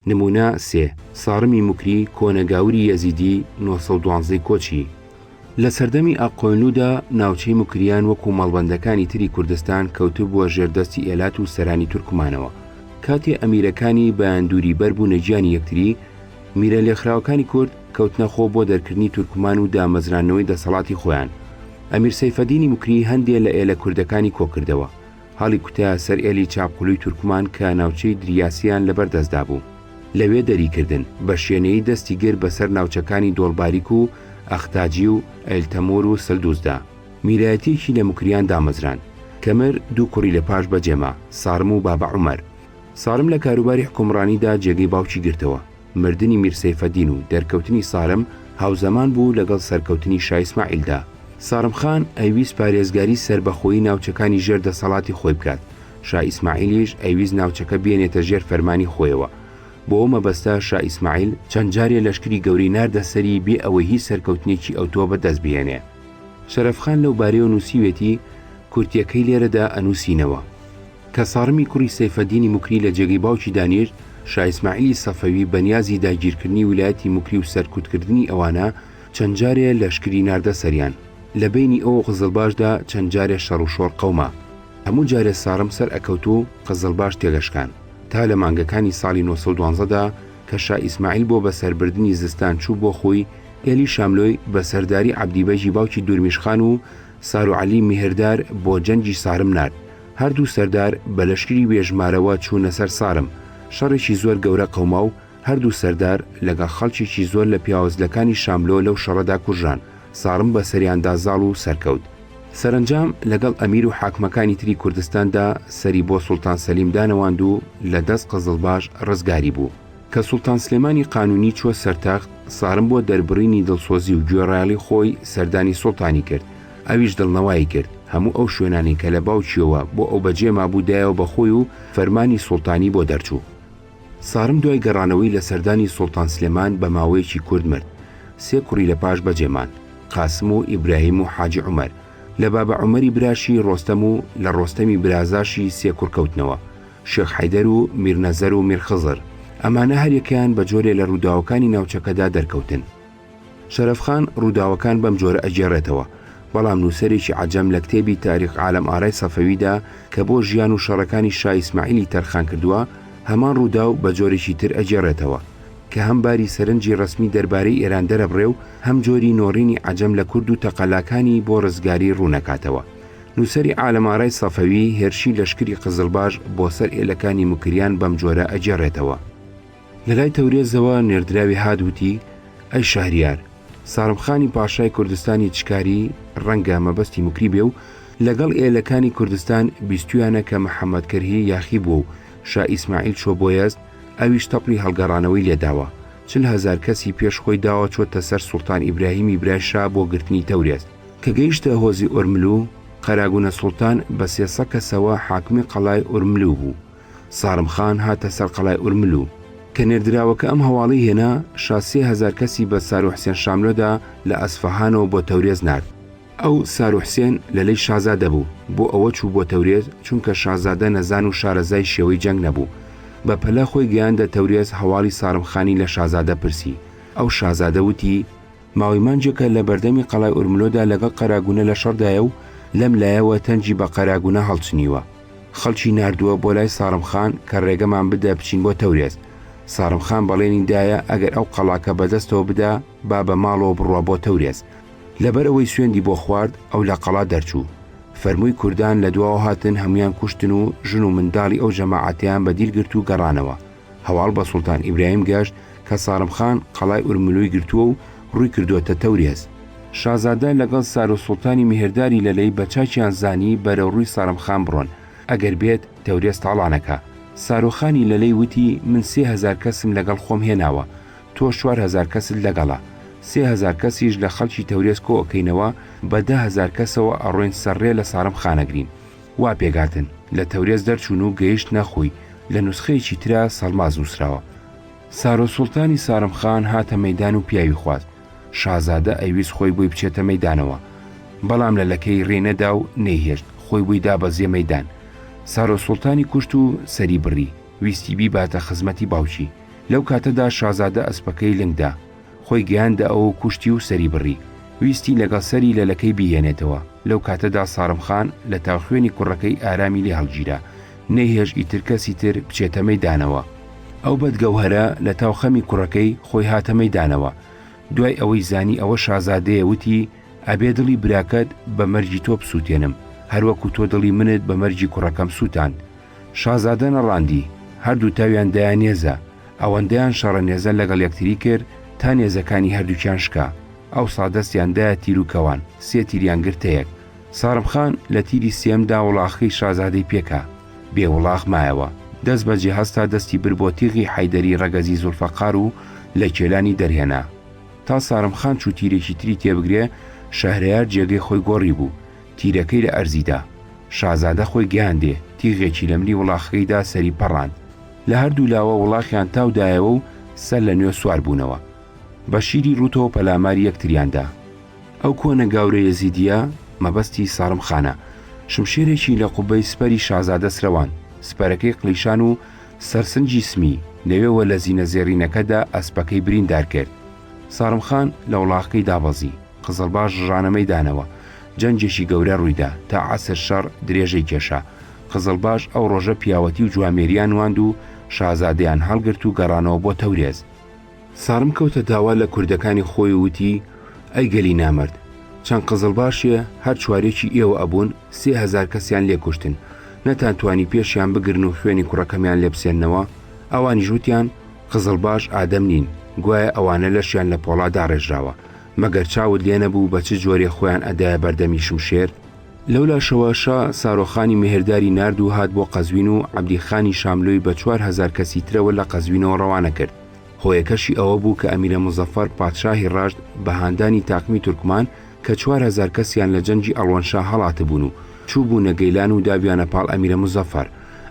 نمونە سێ، سارمی موکری کۆنە گاوری یەزیدی نۆ سەد و دوازدە کۆچی، لە سەردەمی ئاقۆینلودا ناوچەی موکریان وەکو مەڵبەندەکانی تری کوردستان کەوتبووە ژێر دەستی ئێلات و سەرانی تورکمانەوە، کاتێ ئەمیرەکانی بایەندوری بەر بوونە گیانی یەکتری، میرە لێکخراوەکانی کورد کەوتنە خۆ بۆ دەرکردنی تورکمان و دامەزراندنەوەی دەسەڵاتی خۆیان، ئەمیر سەیفەدینی موکری هەندێ لە ئێلە کوردەکانی کۆکردەوە. هەڵیکوتە سەر ئێلی چاپقلوی تورکمان کە ناوچەی دریاسیان لەبەر دەستدا بوو. لەوێ دەریکردن، بە شێنەیی دەستی گرت بە سەر ناوچەکانی دۆڵباریک و ئەختاجی و ئەیلتەمور و سلدوزدا. میرایەتیەکی لە مکریان دامەزراند. کەمر دوو کوڕی لە پاش بەجێما، سارم و بابە عومەر. سارم لە کاروباری حکومڕانیدا جێگەی باوکی گرتەوە. مردنی میر سەیفەدین و دەرکەوتنی سارم هاوزەمان بوو لەگەڵ سەرکەوتنی شا ئیسماعیلدا. سارم خان ئەیویست پارێزگاری سەربەخۆیی ناوچەکانی ژێر دەسەڵاتی خۆی بکات، شا ئیسماعیلیش ئەیویست ناوچەکە بێنێتە ژێر فەرمانی خۆیەوە. بۆ ئەو مەبەستە شا ئیسماعیل چەند جارێ لەشکری گەورەی ناردە سەری بێ ئەوەی هیچ سەرکەوتنێکی ئەوتۆ بە دەست بهێنێ. شەرەف خان لەو بارەیەوە نووسیوێتی، کورتییەکەی لێرەدا ئەنووسینەوە. کە سارمی کوڕی سەیفەدینی موکری لە جێگەی باوکی دانیشت، شا ئیسماعیلی سەفەوی بە نیازی داگیرکردنی ویلایەتی موکری و سەرکوتکردنی ئەوانە، چەند جارێ لەشکری ناردە سەریان. لە بەینی ئەو و قزڵباشدا چەند جارێ شەڕ و شۆڕ قەوما. هەموو جارێ سارم سەر ئەکەوت و قزڵباش تێدەشکان. تا لە مانگەکانی ساڵی نۆ سەد و دوازدە دا کە شا ئیسماعیل بۆ بەسەربردنی زستان چوو بۆ خووی ئێلی شاملۆی بە سەرداری عەبدی بەگی باوکی دورمیش خان و سارو عەلی میهردار بۆ جەنگی سارم نارد هەر دوو سەردار بە لەشکری بێ ژمارەوە چوونە سەر سارم، شەڕێکی زۆر گەورە قەوما و هەر دوو سەردار لەگەڵ خەڵکێکی زۆر لە پیاوەجلەکانی شاملۆ لەو شەڕەدا کوژران، سارم بە سەریاندا زاڵ و سەرکەوت. سەرەنجام لەگەڵ ئەمیر و حاکمەکانی تری کوردستاندا سەری بۆ سوڵتان سەلیم دانەواند و لە دەست قزڵباش ڕزگاری بوو. کە سوڵتان سلێمانی قانونی چووە سەرتەخت، سارم بۆ دەربڕینی دڵسۆزی و گوێڕایەڵی خۆی سەردانی سوڵتانی کرد، ئەویش دڵنەوایی کرد، هەموو ئەو شوێنانەی کە لە باوکییەوە بۆ ئەو بەجێ مابوو دایەوە بە خۆی و فەرمانی سوڵتانی بۆ دەرچوو. سارم دوای گەڕانەوەی لە سەردانی سوڵتان سلێمان بە ماوەیەکی کورت مرد. سێ کوڕی لە پاش بەجێ ماند، قاسم و ئیبراهیم و حاجی عومەر، لە بابە عومەری براشی ڕۆستەم و لە ڕۆستەمی برازاشی سێ کوڕ کەوتنەوە. شێخ حەیدەر و میر نەزەر و میر خزر، ئەمانە هەر یەکەیان بە جۆرێ لە ڕووداوەکانی ناوچەکەدا دەرکەوتن. شەرەف خان ڕووداوەکان بەم جۆرە ئەگێڕێتەوە، بەڵام نووسەرێکی عەجەم لە کتێبی تاریخ عالم ئارای سەفەویدا کە بۆ ژیان و شەڕەکانی شا ئیسماعیلی تەرخان کردووە، هەمان ڕووداو بە جۆرێکی تر ئەگێڕێتەوە کە هەم باری سەرنجی ڕەسمی دەربارەی ئێران دەرەبڕێ و هەم جۆری نۆڕینی عەجەم لە کورد و تەقەلاکانی بۆ ڕزگاری ڕوونەکاتەوە. نووسەری عالەمارای سەفەوی هێرشی لەشکری قزڵباش بۆ سەر ئێلەکانی موکریان بەم جۆرە ئەگێڕێتەوە. لە لای تەورێزەوە نێردراوی هات وتی، ئەی شەهریار، سارمخانی پاشای کوردستانی چکاری، ڕەنگە مەبەستی موکری بێ و، لەگەڵ ئێلەکانی کوردستان بیستوویانە کە محەمەد کەرهی یاخی بووە و شا ئیسماعیل چووە بۆ یەزد، ئەویش تەپڵی هەڵگەڕانەوەی لێ داوە، چل هەزار کەسی پێش خۆی داوە چۆتە سەر سوڵتان ئیبراهیمی برای شا بۆ گرتنی تەورێز. کە گەیشتە هۆزی ئۆرملو، قەراگونە سوڵتان بە سێ سەد کەسەوە حاکمی قەڵای ئۆرملو بوو. سارم خان هاتە سەر قەڵای ئۆرملو. کە نێردراوەکە ئەم هەواڵەی هێنا، شا سێ هەزار کەسی بە سارۆ حسێن شاملۆدا لە ئەسفەهانەوە بۆ تەورێز نارد. ئەو، سارۆ حسێن، لە لەی شازادە بوو، بۆ ئەوە چوو بۆ تەورێز، چونکە شازادە نەزان و شارەزای شێوەی جەنگ نەبوو. بە پەلە خۆی گەیاندە تەورێز هەواڵی سارم خانی لە شازادە پرسی. ئەو شازادە وتی. ماوەی مانجێکە لە بەردەمی قەڵای ئورملۆدا لەگەڵ قەراگونە لە شەڕدایە و لەم لایەوە تەنگی بە قەراگونە هەڵچنیوە خەڵکی نردووە بۆ لای ساڕم خان کە ڕێگەمان بدە بچین بۆ تەورێز ساڕم خان بەڵێنی دایە ئەگەر ئەو قەڵاکە بەدەستەوە بدا با بە ماڵەوە بڕوا بۆ تەورێز لەبەر ئەوەی سوێندی بۆ خوارد ئەو لە قەڵا دەرچوو فەرمووی کوردان لە دواوە هاتن هەمویان کوشتن و ژن و منداڵی ئەو جەماعەتیان بە دیل گرت و گەڕانەوە هەواڵ بە سوڵتان ئیبراهیم گەشت کە سارم خان قەڵای ئورملوی گرتووە و ڕووی کردووەتە تەورێز. شازادە لەگەڵ سارو سوڵتانی میهرداری لەلەی بە چاکیان زانی بەرەوڕووی سارم خان بڕۆن، ئەگەر بێت تەورێز تاڵانەکە. سارو خانی لەلەی وتی من سێ هەزار کەسم لەگەڵ خۆم هێناوە، تۆش چوار هەزار کەست لەگەڵە، سێ هەزار کەسیش لە خەڵکی تەورێز کۆ ئەکەینەوە، بە دە هەزار کەسەوە ئەڕۆین سەر ڕێ لە سارم خان ئەگرین. وا پێکهاتن، لە تەورێز دەرچوون و گەیشتنە خوی، لە نوسخەیەکی ترا سەڵماز نووسراوە. سارۆ سوڵتانی سارم خان هاتە مەیدان و پیاوی خواست، شازادە ئەیویست خۆی بۆی بچێتە مەیدانەوە، بەڵام لە لەکەی رێ نەدا و نەیهێشت، خۆی بۆی دا بە زێ مەیدان، سارۆ سوڵتانی کوشت و سەری بڕی، ویستی بیباتە خزمەتی باوکی، لەو کاتەدا شازادە ئەسپەکەی لنگ دا، خۆی گەیاندە ئەوە و کوشتی و سەری بڕی. ویستی لەگەڵ سەری لەلەکەی بیهێنێتەوە. لەو کاتەدا سارم خان لە تاو خوێنی کوڕەکەی ئارامی لێ هەڵگیرا. نەیهێشت ئیتر کەسی تر بچێتە مەیدانەوە. ئەو بەد گەوهەرە لە تاو خەمی کوڕەکەی خۆی هاتە مەیدانەوە. دوای ئەوەی زانی ئەوە شازادەیە وتی، ئەبێ دڵی براکەت بە مەرگی تۆ بسووتێنم، هەر وەکوو تۆ دڵی منت بە مەرگی کوڕەکەم سووتاند. شازادە نەڕاندی، هەردوو تاویان دایە نێزە، ئەوەندەیان شەڕە نێزە لەگەڵ یەکتری کرد تا نێزەکانی هەردووکیان شکا، ئەوسا دەستیان دایە تیر و کەوان، سێ تیریان گرتە یەک. سارم خان لە تیری سێیەمدا وڵاخەکەی شازادەی پێ کا، بێ وڵاخ مایەوە، دەست بە جێ هەستا دەستی برد بۆ تیغی حەیدەری ڕەگەزی زوڵفەقار و لە کێلانی دەرهێنا. تا سارم خان چوو تیرێکی تری تێ بگرێ، شەهرەیار جێگەی خۆی گۆڕیبوو، تیرەکەی لە ئەرزی دا. شازادە خۆی گەیاندێ تیغێکی لە ملی وڵاخەکەی دا سەری پەڕاند. لە هەر دوو لاوە وڵاخیان تاو دایەوە و سەر لە نوێ سوار بوونەوە. بە شیری ڕووتەوە پەلاماری یەکتریان دا. ئەو کۆنە گاورە یەزیدییە مەبەستی سارم خانە. شمشێرێکی لە قوبەی سپەری شازادە سرەواند. سپەرەکەی قلیشان و سەرسنجی سمی، لەوێوە لە زینە زێڕینەکە دا ئەسپەکەی بریندار کرد. سارم خان لە وڵاخەکەی دابەزی. قزڵباش ڕژانەمەی دانەوە. جەنگێکی گەورە ڕوویدا. تا عەسر شەڕ درێژەی کێشا. قزڵباش ئەو ڕۆژە پیاوەتی و جوامێرییان نواند و شازادەیان هەڵگرت و گەڕانەوە بۆ تەورێز. سارم کەوتە داوا لە کوردەکانی خۆی و وتی، ئەی گەلی نامەرد! چەند قزڵباشێ هەر چوارێکی ئێوە ئەبوون، سێ هەزار کەسیان لێ کوشتن، نەتانتوانی پێشیان بگرن و خوێنی کوڕەکەمیان لێ بسێننەوە؟ ئەوانیش وتیان، قزڵباش ئادەم نین، گوایە ئەوانە لەشیان لە پۆڵا داڕێژراوە. مەگەر چاوت لێ نەبوو بە چ جۆرێ خۆیان ئەدایە بەردەمی شمشێر؟ لەو لاشەوە شا سارۆخانی مێهرداری نارد و هات بۆ قەزوین و عەبدی خانی شاملۆی بە چوار هەزار کەسی ترەوە لە قەزوینەوە ڕەوانە کرد. هۆیەکەشی ئەوە بوو کە ئەمیرە موزەفەر پادشاهی ڕەشت بە هاندانی تاقمی تورکمان کە چوار هەزار کەسیان لە جەنگی ئەڵوەنشا هەڵاتبوون و چووبوونە گەیلان و دابیانە پاڵ ئەمیرە موزەفەر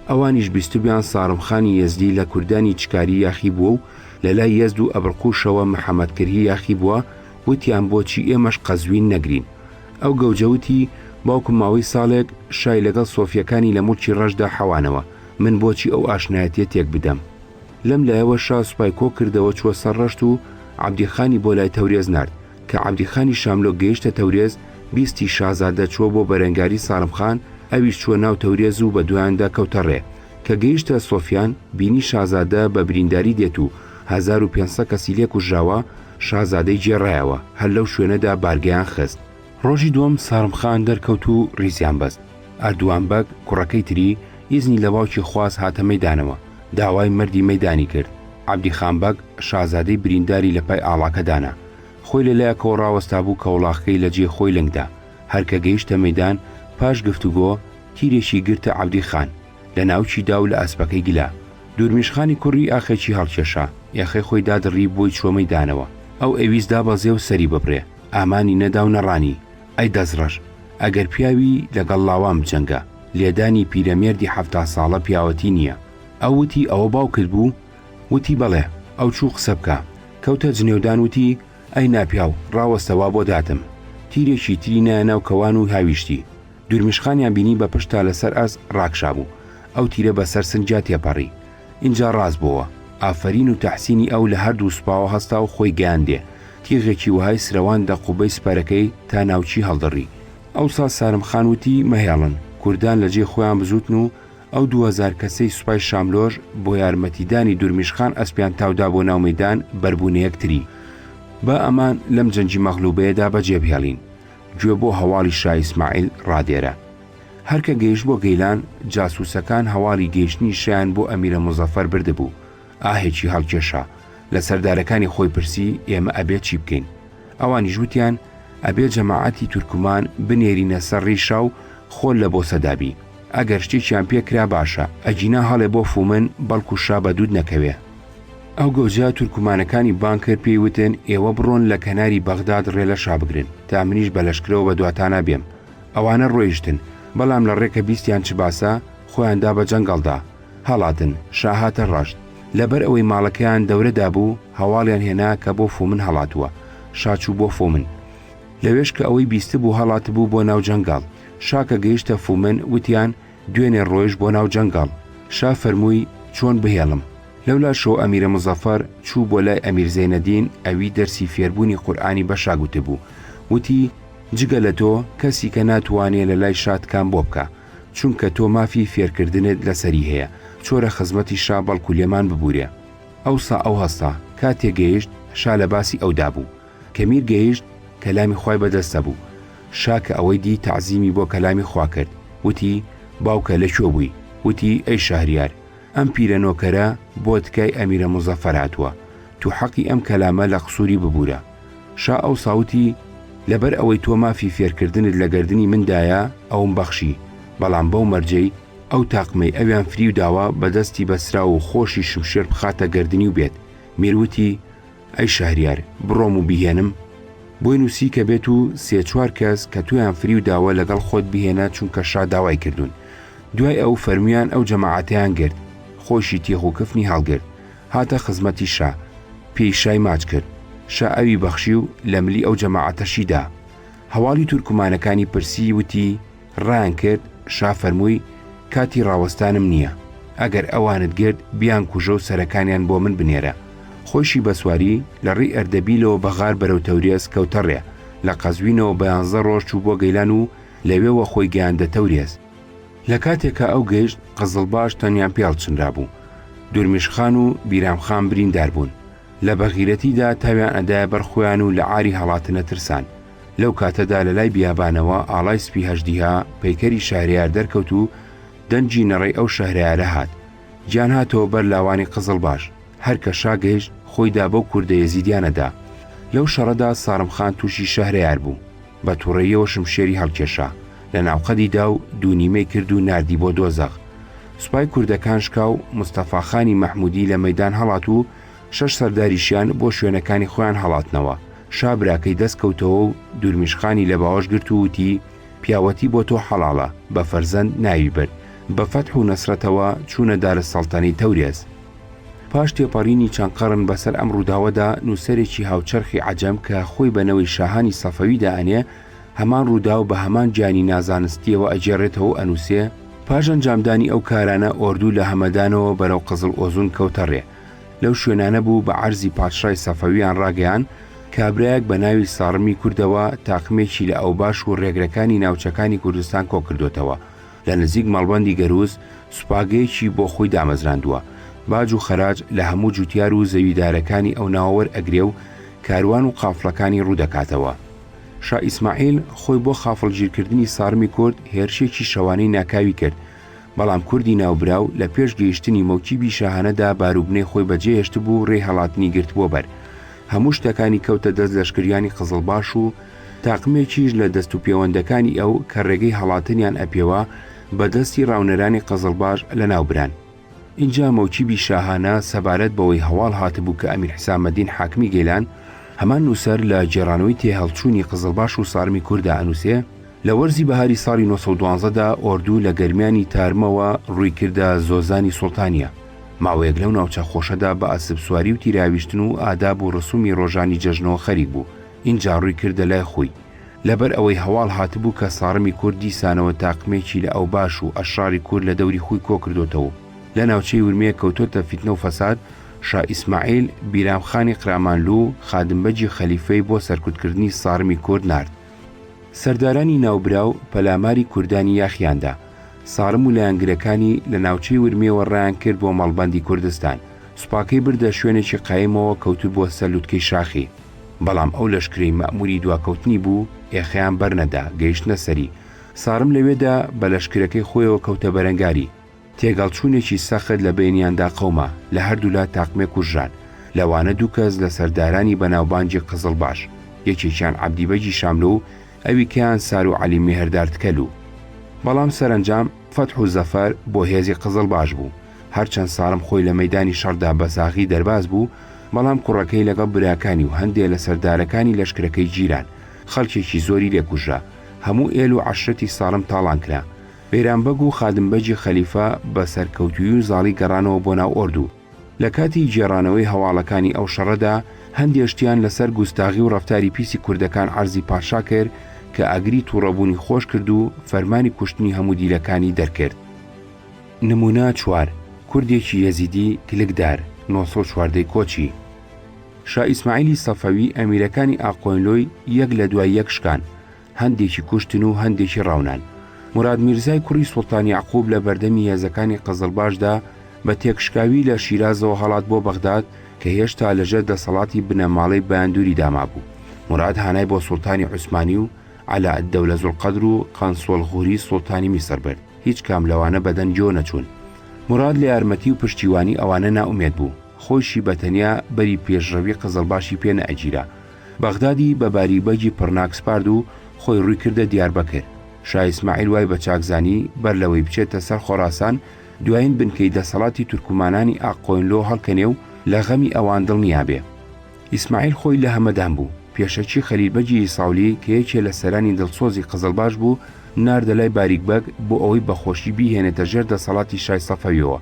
ئەوانیش بیستبیان سارم خانی یەزدی لە کوردانی چکاری یاخی بووە و لەلای یەزد و ئەبرقوشەوە محەمەدکرهی یاخی بووە، وتیان بۆچی ئێمەش قەزوین نەگرین؟ ئەو گەوجە وتی، باوکم ماوەی ساڵێک شای لەگەڵ سۆفییەکانی لە موڵکی ڕەشدا حەوانەوە، من بۆچی ئەو ئاشنایەتییە تێک بدەم؟ لەم لایەوە شا سوپای کۆ کردەوە چووە سەر ڕەشت و عەبدی خانی بۆ لای تەورێز نارد، کە عەبدی خانی شاملۆک گەیشتە تەورێز بیستی شازادە چووە بۆ بەرەنگاری ساڵم خان، ئەویش چووە ناو تەورێز و بە دوایاندا کەوتە ڕێ. کە گەیشتە سۆفیان، بینی شازادە بە برینداری دێت و هەزار و پێنج سەد کەسی لێ کوژراوە، شازادەی گێڕایەوە، هەر لەو شوێنەدا بارگەیان خست. ڕۆژی دووەم سارم خان دەرکەوت و ڕیزیان بەست. ئەردوان بەگ، کوڕەکەی تری، ئیزنی لە باوکی خواست هاتە مەیدانەوە، داوای مەردی مەیدانی کرد. عەبدی خان بەگ، شازادەی برینداری لە پای ئاڵاکە دانا. خۆی لە لایەکەوە ڕاوەستابوو کە وڵاخکەی لە جێی خۆی لنگ دا. هەر کە گەیشتە مەیدان پاش گفتوگۆ، تیرێکی گرتە عەبدی خان، لە ناوکی دا و لە ئەسپەکەی گلە. دورمیش خانی کوڕی ئاخێکی هەڵکێشا، یەخەی خۆی دادڕی بۆی چووە مەیدانەوە. ئەو ئەویست دابەزێ و سەری ببرێ، ئامانی نەدا و نەڕانی، ئەی دەسڕەش! ئەگەر پیاوی، لە گەڵ لاوان بجەنگە. لێدانی پیرەمێردی حەفتا ساڵە پیاوەتی نییە. ئەو وتی ئەوە باوکت بوو؟ وتی بەڵێ. ئەو چوو قسە بکا. کەوتە جنێودان وتی، ئەی ناپیاو، ڕاوەستە وا بۆ داتم. تیرێکی تری نایە ناو کەوان و هاویشتی. دورمیشخانیان بینی بە پشت تا لەسەر ئاست ڕاکشابوو. ئەو تیرە بە سەر سنگیا تێپەڕی. ئینجا ڕاست بۆوە. ئافەرین و تەحسینی ئەو لە هەردوو سوپاوە هەستا و خۆی گەیاندێ. تیغێکی وەهای سرەواند لە قوبەی سپەرەکەی تا ناوچی هەڵدڕی. ئەوسا سارم خان وتی مەهێڵن، کوردان لە جێی خۆیان بزووتن و ئەو دوو هەزار کەسەی سوپای شاملۆش بۆ یارمەتیدانی دورمیش خان ئەسپیان تاودا بۆ ناو مەیدان بەربوونە یەکتری. با ئەمان لەم جەنگی مەغلوبەیەدا بەجێ بهێڵین. گوێ بۆ هەواڵی شا ئیسماعیل ڕادێرە. هەر کە گەیشت بۆ گەیلان، جاسووسەکان هەواڵی گەیشتنی شایان بۆ ئەمیرە موزەفەر بردبوو. ئاهێکی هەڵکێشا لە سەردارەکانی خۆی پرسی ئێمە ئەبێ چی بکەین ئەوانیش وتیان ئەبێ جەماعەتی تورکمان بنێرینە سەر ڕیشا و خۆل لە بۆ سەدابی ئەگەر شتێکیان پێکرا باشە ئەگینا هەڵێ بۆ فومن بەڵکو شا بە دوود نەکەوێ ئەو گەوجە تورکمانەکانی بان کرد پێی وتن ئێوە بڕۆن لە کەناری بەغداد ڕێ لە شا بگرن تا منیش بە لەشکرەوە بە دواتانا بێم ئەوانە ڕۆیشتن بەڵام لە ڕێکە بیستیان چ باسە خۆیان دا بە جەنگەڵدا هەڵاتن، شا هاتە ڕەشت، لەبەر ئەوەی ماڵەکەیان دەورە دابوو، هەواڵیان هێنا کە بۆ فومن هەڵاتووە، شا چوو بۆ فومن. لەوێش کە ئەوەی بیستبوو هەڵاتبوو بۆ ناو جەنگەڵ، شا کە گەیشتە فومن وتیان، دوێنێ ڕۆیشت بۆ ناو جەنگەڵ، شا فەرمووی، چۆن بهێڵم؟ لەولاشەوە ئەمیرە موزەفەر چوو بۆ لای ئەمیر زەینەدین، ئەوی دەرسی فێربوونی قورئانی بە شا گوتبوو، وتی، جگە لە تۆ کەسیکە ناتوانێ لە لای شا تکام بۆ بکا. چونکە تۆ مافی فێرکردنت لەسەری هەیە چۆرە خزمەتی شا بەڵکو لێمان ببورێ ئەوسا ئەو هەستا کاتێ گەیشت شا لە باسی ئەودا بوو کە میر گەیشت کەلامی خوای بەدەستە بوو شا کە ئەوەی دی تەعزیمی بۆ کەلامی خوا کرد وتی باوکە لە کوێ بووی وتی ئەی شەهریار ئەم پیرە نۆکەرە بۆ تکای ئەمیرە موزەفەر هاتووە تو حەقی ئەم کەلامە لە قسوری ببورە شا ئەوسا وتی لەبەر ئەوەی تۆ مافی فێرکردنت لە گەردنی من دایە ئەوم بەخشی بەڵام بەو مەرجەی ئەو تاقمەی ئەویان فریو داوە بە دەستی بەسراو و خۆشی شمشێر بخاتە گەردنی و بێت میر وتی ئەی شەهریار بڕۆم و بیهێنم؟ بۆی نووسی کە بێت و سێ چوار کەس کە تۆیان فریو داوە لەگەڵ خۆت بهێنە چونکە شا داوای کردوون. دوای ئەو فەرموویان ئەو جەماعەتەیان گرت. خۆیشی تیخ و کفنی هەڵگرت. هاتە خزمەتی شا. پێی شای ماچ کرد. شا ئەوی بەخشی و لە ملی ئەو جەماعەتەشی دا. هەواڵی تورکمانەکانی پرسی وتی، ڕایان کرد، شا فەرمووی، کاتی ڕاوەستانم نییە، ئەگەر ئەوانت گرت بیانکوژە و سەرەکانیان بۆ من بنێرە، خۆیشی بە سواری لە ڕێی ئەردەبیلەوە بە غار بەرەو تەورێز کەوتە ڕێ، لە قەزوینەوە بە یانزە ڕۆژ چوو بۆ گەیلان و لەوێوە خۆی گەیاندە تەورێز. لە کاتێکا ئەو گەیشت قزڵباش تەنیا پێڵ چنرابوو، دورمیش خان و بیرام خان بریندار بوون، لە بەغیرەتیدا تاویان ئەدایە بەر خۆیان و لە عاری هەڵاتنە ترسان، لەو کاتەدا لە لای بیابانەوە ئاڵای سپی هەژدیها پەیکەری شارەیار دەرکەوت و دەنجی نەڕێی ئەو شەهرارە هات گیان هاتەوە بەر لاوانی قزڵ باش هەرکە شاگەیشت خۆیدا بەو کوردە یەزیدیانەدا لەو شەڕەدا ساڕم خان تووشی شەهرەیار بوو بە تووڕەیەوە شمشێری هەڵکێشا لە ناوقەدیدا و دوونیمەی کرد و نردی بۆ دۆزەغ سوپای کوردەکان شکاو مستەفاخانی مەحمودی لە مەدان هەڵات و شەش سەرداریشیان بۆ شوێنەکانی خۆیان هەڵاتنەوە، شا براکەی دەست کەوتەوە و دورمیشقانی لە باوەش گرت و وتی، پیاوەتی بۆ تۆ حەڵاڵە، بە فەرزەند ناوی برد، بە فەتح و نەسرەتەوە چوونە دارەسەڵتەنەی تەورێز. پاش تێپەڕینی چەند قەڕن بە سەر ئەم ڕووداوەدا نووسەرێکی هاوچەرخی عەجەم کە خۆی بە نەوەی شاهانی سەفەوی دائەنێ، هەمان ڕووداو بە هەمان جیانی نازانستییەوە ئەگێڕێتەوە و ئەنووسێ، پاش ئەنجامدانی ئەو کارانە ئۆردوو لە هەمەدانەوە بەرەو قزڵ ئۆزون کەوتە ڕێ، لەو شوێنانە بوو بە عەرزی پادشای سەفەویان ڕاگەیان کابرایەک بە ناوی ساڕمی کوردەوە تاقمێکی لە ئەوباش و ڕێگرەکانی ناوچەکانی کوردستان کۆکردوتەوە لە نزیک مەڵبەندی گەرووز سوپاگەیەکی بۆ خۆی دامەزراندووە باج و خەراج لە هەموو جوتیار و زەویدارەکانی ئەو ناوە وەرئەگرێ و کاروان و قافڵەکانی ڕوودەکاتەوە. شا ئیسماعیل خۆی بۆ خافڵگیرکردنی ساڕمی کورد هێرشێکی شەوانەی ناکاوی کرد بەڵام کوردی ناوبراو لە پێش گەیشتنی مەوکیبی شاهانەدا باروبنەی خۆی بەجێ هێشتبوو و رێی هەڵاتنی گرتبووە بەر، هەموو شتەکانی کەوتە دەست لەشکریانی قزڵباش و تاقمێکیش لە دەست و پێوەندەکانی ئەو کە رێگەی هەڵاتنیان ئەپێوا بە دەستی راونەرانی قزڵباش لەناوبران. ئینجا مەوکیبی شاهانە سەبارەت بەوەی هەواڵ هاتبوو کە ئەمیر حسامەدین حاکمی گەیلان، هەمان نووسەر لە گێڕانەوەی تێهەڵچوونی قزڵباش و سارمی کووردا ئەنووسێ، لە وەرزی بەهاری ساڵی نۆ سەد و دوازدە دا ئۆردوو لە گەرمیانی تارمەوە ڕووی کردە زۆزانی سوڵتانیە، ماوەیەک لەو ناوچە خۆشەدا بە ئەسپسواری و تیراویشتن و ئاداب و ڕسوومی ڕۆژانی جەژنەوە خەریک بوو، ئینجا ڕووی کردە لای خوی. لەبەر ئەوەی هەواڵ هاتبوو کە ساڕمی کورد دیسانەوە تاقمێکی لە ئەوباش و ئەشڕاری کورد لە دەوری خوی کۆ کردۆتەوە و لە ناوچەی ورمێ کەوتۆتە فیتنە و فەساد، شا ئیسماعیل، بیرام خانی قرامانلوو، خادم بەگی خەلیفەی بۆ سەرکوت کردنی ساڕمی کورد نارد. سەردارانی ناوبراو پەلاماری کوردانی یاخیان دا. سارم و لایەنگرەکانی لە ناوچەی ورمێوە ڕایان کرد بۆ مەڵبەندی کوردستان. سوپاکەی بردە شوێنێکی قایمەوە کەوتبووە سەر لوتکەی شاخی. بەڵام ئەو لەشکرەی مەئمووری دواکەوتنی بوو، ئێخەیان بەرنەدا، گەیشتنە سەری. سارم لەوێدا بە لەشکرەکەی خۆیەوە کەوتە بەرەنگاری. تێگەڵچوونێکی سەخت لە بەینیاندا قەوما، لە هەردوولا تاقمێک کوژران، لەوانە دوو کەس لە سەردارانی بەناوبانگی قزڵباش، یەکێکیان عەبدی بەگی شاملۆ و ئەویکەیان سارو عەلی میهردارد کەلو. بەڵام سەرەنجام فەتح و زەفەر بۆ هێزی قزڵباش بوو، هەرچەند سارم خۆی لە مەیدانی شەڕدا بە ساغی دەرباز بوو، بەڵام کوڕەکەی لەگەڵ براکانی و هەندێ لە سەردارەکانی لەشکرەکەی گیران، خەڵکێکی زۆری لێ کوژرا، هەموو ئێل و عەشرەتی سارم تاڵان کرا، بەیرام بەگ و خادم بەگی خەلیفە بە سەرکەوتوویی و زاڵی گەڕانەوە بۆ ناو ئۆردو. لە کاتی گێڕانەوەی هەواڵەکانی ئەو شەڕەدا، هەندێ شتیان لە سەر گوستاغی و ڕەفتاری پیسی کوردەکان عەرزی پاشا کرد کە ئاگری تووڕەبوونی خۆش کرد و فەرمانی کوشتنی هەموو دیلەکانی دەرکرد. نموونە چوار، کوردێکی یەزیدی کلکدار، نۆ سەد و چواردە ی کۆچی. شا ئیسماعیلی سەفەوی ئەمیرەکانی ئاقۆینلۆی یەک لە دوای یەک شکان. هەندێکی کوشتن و هەندێکی ڕاونان. موراد میرزای کوڕی سوڵتان یەعقوب لە بەردەمی هێزەکانی قزڵباشدا بە تێکشکاوی لە شیرازەوە هەڵات بۆ بەغداد کە هێشتا لەژێر دەسەڵاتی بنەماڵەی بایندوریدا مابوو. موراد هانای بۆ سوڵتانی عوسمانی و عەلائەددەولە زوڵقەدر و قەنسوەڵ غوری سوڵتانی میسر برد. هیچ کام لەوانە بەدەن جۆ نەچوون. موراد لە یارمەتی و پشتیوانی ئەوانە نائومێد بوو. خۆیشی بە تەنیا بەری پێشڕەوی قزڵباشی پێ نەئەگیرا. بەغدادی بە باری بەگی پڕناک سپارد و خۆی ڕووی کردە دیاربەکر. شا ئیسماعیل وای بە چاک زانی، بەر لەوەی بچێتە سەر خۆراسان، دوایین بنکەی دەسەڵاتی تورکمانانی ئاققۆینلۆ هەڵکەنێ و لە غەمی ئەوان دڵنیا بێ. ئیسماعیل خۆی لە هەمەدان بوو. پێشەکی خەلیل بەگی ئیساولی کە یەکێ لە سەرانی دڵسۆزی قزڵباش بوو، ناردە لای باریک بەگ بۆ ئەوەی بە خۆشی بیهێنێتە ژێر دەسەڵاتی شای سەفەویەوە.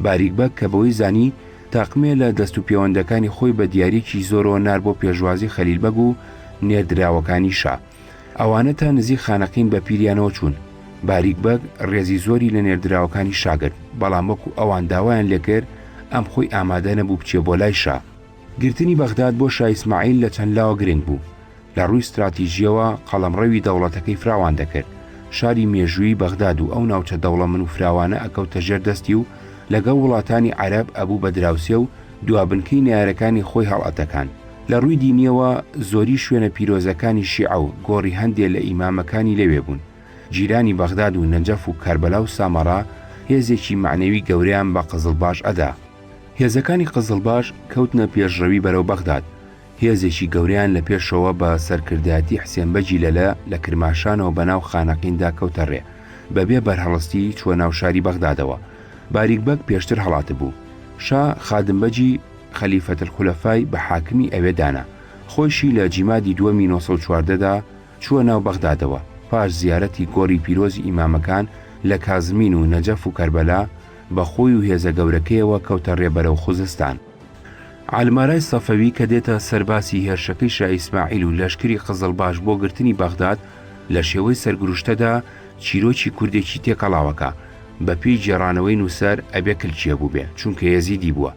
باریک بەگ کە بەوەی زانی تاقمێ لە دەست و پێوەندەکانی خۆی بە دیاریکی زۆرەوە نار بۆ پێشوازی خەلیل بەگ و نێردراوەکانی شا. ئەوانە تا نزیک خانەقین بە پیریانەوە چوون. باریک بەگ ڕێزی زۆری لە نێردراوەکانی شا گرت، بەڵام وەکو ئەوان داوایان لێکرد ئەم خۆی ئامادە نەبوو بچێ بۆ لای شا. گرتنی بەغداد بۆ شا ئیسماعیل لە چەند لاوە گرنگ بوو، لە ڕووی ستراتیژییەوە قەڵەمڕەوی دەوڵەتەکەی فراوان دەکرد، شاری مێژوویی بەغداد و ئەو ناوچە دەوڵەمن و فراوانە ئەکەوتە ژێر دەستی و لەگەڵ وڵاتانی عەرەب ئەبوو بە دراوسێ و دوابنکەی نەیارەکانی خۆی هەڵئەتەکاند. لە ڕووی دینییەوە زۆری شوێنە پیرۆزەکانی شیعە و گۆڕی هەندێ لە ئیمامەکانی لەوێ بوون. جیرانی بەغداد و نەجەف و کەربەلا و سامەڕا هێزێکی مەعنەوی گەورەیان بە قزڵباش ئەدا. هێزەکانی قزڵباش کەوتنە پێشڕەوی بەرەو بەغداد، هێزێکی گەورەیان لە پێشەوە بە سەرکردایەتی حسێن بەگی لەلە لە کرماشانەوە بەناو خانەقیندا کەوتە ڕێ، بەبێ بەرهەڵستی چووە ناو شاری بەغدادەوە. باریک بەگ پێشتر هەڵاتبوو. شا خادم بەگی خەلیفەت الخلفای بە حاکمی ئەوێ دانا. خۆیشی لە جیمادی دووەمی نۆ سەد و چواردە دا چووە ناو بەغدادەوە، پاش زیارەتی گۆڕی پیرۆزی ئیمامەکان لە کازمین و نەجەف و کەربەلا، بە خۆی و هێزە گەورەکەیەوە کەوتە رێ بەرەو خوزستان. عەلمارای سەفەوی کە دێتە سەر باسی هێرشەکەی شا ئیسماعیل و لەشکری قزڵباش بۆ گرتنی بەغداد لە شێوەی سەرگروشتەدا چیرۆکی کوردێکی تێکەڵاوەکە، بە پێی گێڕانەوەی نووسەر ئەبێ کلچیە بووبێ چونکە یەزیدی بووە.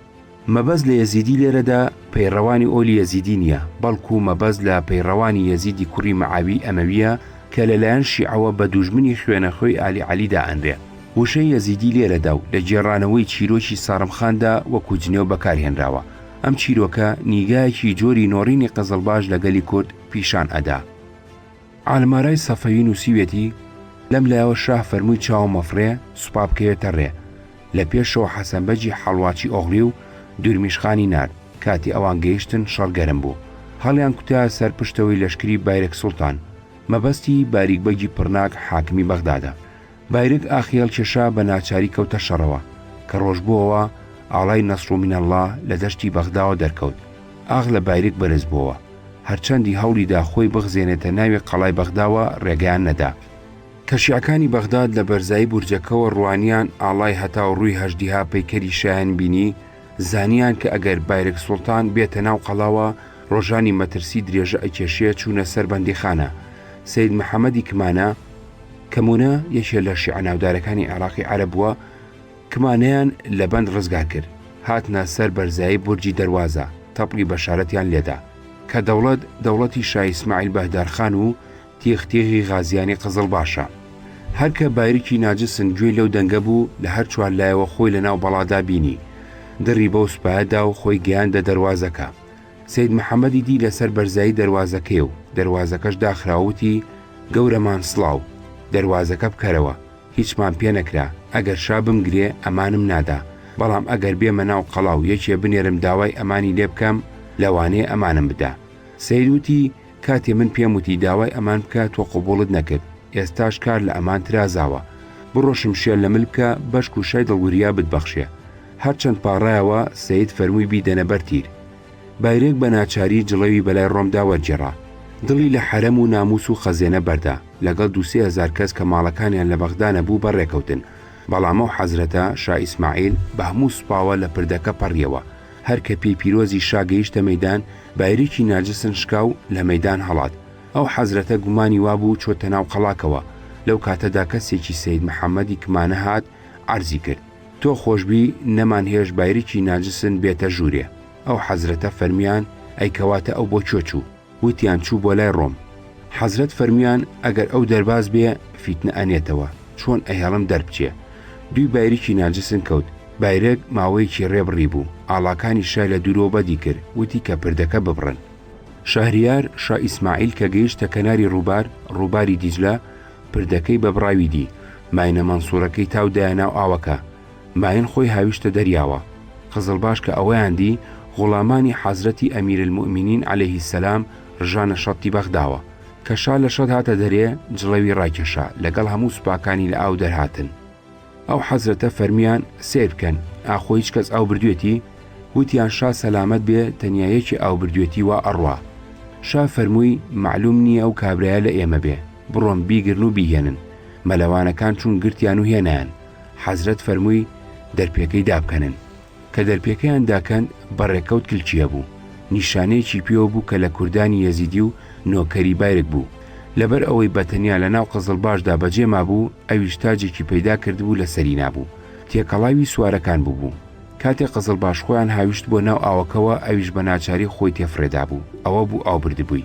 مەبەست لە یەزیدی لێرەدا پەیڕەوانی ئۆلی یەزیدی نییە، بەڵکوو مەبەست لە پەیڕەوانی یەزیدی کوڕی مەعاویی ئەمەوییە کە لە لایەن شیعەوە بە دوژمنی خوێنەخوێی ئالی عەلی دائەنرێ. وشەی یەزیدی لێرەدا و لە گێڕانەوەی چیرۆکی سارم خاندا وەکوو جنێو بەکار هێنراوە. ئەم چیرۆکە نیگایەکی جۆری نۆڕینی قزڵباش لە گەلی کورد پیشان ئەدا. عالمارای سەفەوی نووسیویەتی، لەم لایەوە شاه فەرمووی چاوە مەفڕێ سوپا بکەوێتە ڕێ، لە پێشەوە حەسەن بەگی حەڵواچی ئۆغڵی و دورمیش خانی نارد، کاتی ئەوان گەیشتن شەڕ گەرم بوو، هەڵیان کوتایە سەر پشتەوەی لەشکری بایرەک سوڵتان، مەبەستی، باریک بەگی پڕناک حاکمی بەغدادە. بایرگ ئاخی هەڵکێشا بە ناچاری کەوتە شەڕەوە، کە ڕۆژ بۆوە ئاڵای نەسڕ و مینەڵڵا لە دەشتی بەغداوە دەرکەوت، ئاخ لە بایرگ بەرز بۆوە، هەرچەندی هەوڵی دا خۆی بخزێنێتە ناوێ قەڵای بەغداوە ڕێگەیان نەدا، کە شیعەکانی بەغداد لە بەرزایی بورجەکەوە ڕوانیان ئاڵای هەتاو ڕووی هەژدیها پەیکەری شایان بینی، زانیان کە ئەگەر بایرگ سوڵتان بێتە ناو قەڵاوە ڕۆژانی مەترسی درێژە ئەکێشێ چوونە سەر بەندیخانە، سەید محەمەدی کمانە، کەمونە یەکێ لە شیعە ناودارەکانی عێراقی عەرەب بووە کمانیان لە بەند ڕزگار کرد، هاتنە سەر بەرزایی بورجی دەروازە، تەپڵی بەشارەتیان لێدا. کە دەوڵەت دەوڵەتی شا ئیسماعیل بەهدارخان و تیغ تیغی غازیانی قزڵباشە. هەر کە بایرکی ناجسن گوێی لەو دەنگە بوو، لە هەر چوار لایەوە خۆی لەناو بەڵادا بینی. دڕی بەو سوپایە دا و خۆی گەیاندە دەروازەکە. سەید محەمەدی دی لەسەر بەرزایی دەروازەکەی و دەروازەکەش داخرا وتی، گەورەمان سڵاو، دەروازەکە بکەرەوە، هیچمان پێ نەکرا، ئەگەر شا بمگرێ ئەمانم نادا، بەڵام ئەگەر بێمە ناو قەڵا و یەکێ بنێرم داوای ئەمانی لێ بکەم، لەوانەیە ئەمانم بدا. سەید وتی، کاتێ من پێم وتی داوای ئەمان بکە تۆ قبوڵت نەکرد ئێستاش کار لە ئەمان ترازاوە بڕۆ شمشێر لە مل بکە بەشک و شای دڵوریا بتبەخشێ هەرچەند پاڕایەوە سەید فەرمووی بیدەنە بەر تیر بایرێک بە ناچاری جڵەوی بەلای ڕۆمدا وەرگێڕا دڵی لە حەرەم و ناموس و خەزێنە بەردا لەگەڵ دوو سێ هەزار کەس کە ماڵەکانیان لە بەغدا نەبوو بەڕێکەوتن بەڵام ئەو حەزرەتە، شا ئیسماعیل، بە هەموو سوپاوە لە پردەکە پەڕیەوە هەر کە پێی پیرۆزی شا گەیشتە مەیدان، بایریکی نارجسن شکا و لە مەیدان هەڵات. ئەو حەزرەتە گومانی وا بوو چۆتە ناو قەڵاکەوە. لەو کاتەدا کەسێکی سەید محەممەدی کمانە هات، عەرزی کرد، تۆ خۆش بی، نەمان هێشت بایریکی نارجسن بێتە ژوورێ. ئەو حەزرەتە فەرمیان، ئەی کەواتە ئەو بۆ کوێ چوو؟ وتیان چوو بۆ لای ڕۆم. حەزرەت فەرمویان ئەگەر ئەو دەرباز بێ فیتنە ئەنێتەوە، چۆن ئەهێڵم دەربچێ؟ دووی بایریکی ناجسن کەوت، بایرەک ماوەیەکی ڕێ بڕی بوو، ئاڵاکانی شای لە دوورەوە بەدی کرد، وتی کە پردەکە ببڕن. شەهریار شا ئیسماعیل کە گەیشتە کەناری ڕووبار، ڕووباری دیجلە، پردەکەی بە بڕاوی دی، ماینە مەنسوورەکەی تاو دایە ناو ئاوەکە، ماین خۆی هاویشتە دەریاوە. قزڵباش کە ئەوەیان دی، غوڵامانی حەزرەتی ئەمیرالموئمینین عەلەیهی سەلام رژانە شەتی بەغداوە. کە شا لە شەت هاتە دەرێ، جڵەوی راکێشا، لەگەڵ هەموو سوپاکانی لە ئاو دەرهاتن. ئەو حەزرەتە فەرمویان، سەیر بکەن، ئاخۆ هیچ کەس ئاو بردوێتی؟ وتیان، شا سەلامەت بێ، تەنیا یەکێ ئاو بردوێتی وا ئەڕوا. شا فەرمووی، مەعلووم نییە ئەو کابرایە لە ئێمە بێ، بڕۆن بیگرن و بیهێنن. مەلەوانەکان چوون گرتیان و هێنایان. حەزرەت فەرمووی دەرپێکەی دابکەنن، کە دەرپێکەیان داکەند بە ڕێکەوت کلکییە بوو، نیشانەیەکی پێوە بوو کە لە کوردانی یەزیدی و نۆکەری بایرگ بوو، لەبەر ئەوەی بە تەنیا لە ناو قزڵباشدا بە جێ مابوو، ئەویش تاجێکی پەیدا کردبوو لە سەری نابوو، تێکەڵاوی سوارەکان بووبوو. کاتێ قزڵباش خۆیان هاویشت بۆ ناو ئاوەکەوە، ئەویش بە ناچاری خۆی تێفڕێدابوو، ئەوە بوو ئاو بردبووی.